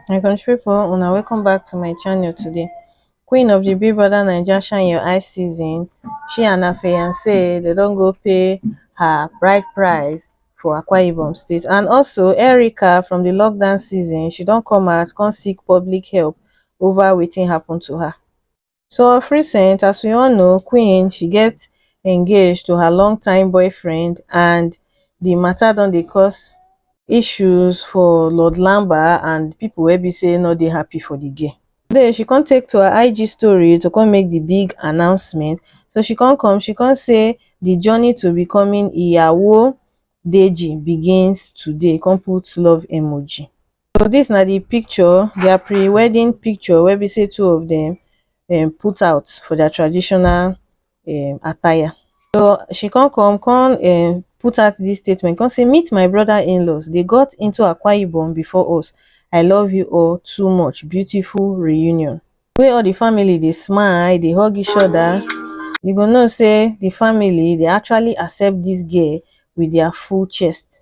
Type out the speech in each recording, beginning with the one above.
my country people una welcome back to my channel today queen of the big brother naija shine your eye season she and her fiance they don't go pay her bride price for akwa ibom state and also erica from the lockdown season she don't come out come seek public help over wetin happened to her so of recent as we all know queen she get engaged to her long time boyfriend and the matter don dey cause issues for lord lamba and people wey be say no dey happy for the girl today she come take to her ig story to come make the big announcement so she come come she come say the journey to becoming iyawo deji begins today come put love emoji So dis na di picture, dia pre-wedding picture wey be sey two of dem um put out for dia traditional um attire. So she kon come kon um put out dis statement kon sey meet my broda in-laws, dey got into Akwa Ibom before us, I love you all too much, beautiful reunion. Di way all di family dey smile, dey hug each oda, you go know sey di family dey actually accept dis girl wit dia full chest.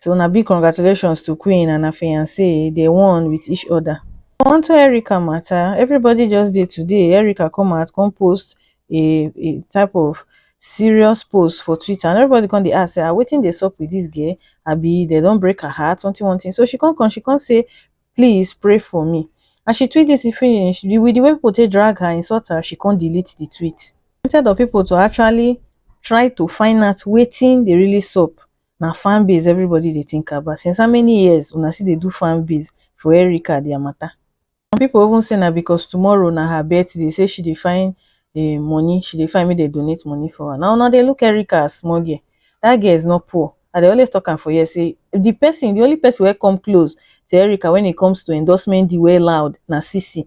so na big congratulations to queen and her fiance dey one with each other onto erica matter everybody just dey today erica come out come post a a type of serious post for twitter and everybody come dey ask say ah wetin dey sup with this girl abi they don break her heart something one thing so she come come she come say please pray for me as she tweet this finish the, with the way people take drag her insult her she come delete the tweet instead of people to actually try to find out wetin dey really sup Na fan base everybody dey think about, since how many years una still dey do fan base for Erica dia matter? Some people even say na because tomorrow na her birthday say she dey find um money, she dey find make dem donate money for her. Na una dey look Erica as small girl, dat girl is not poor, I dey always talk am for here say the person, the only person wey come close to Erica when it comes to endorsement deal wey loud na Sisi.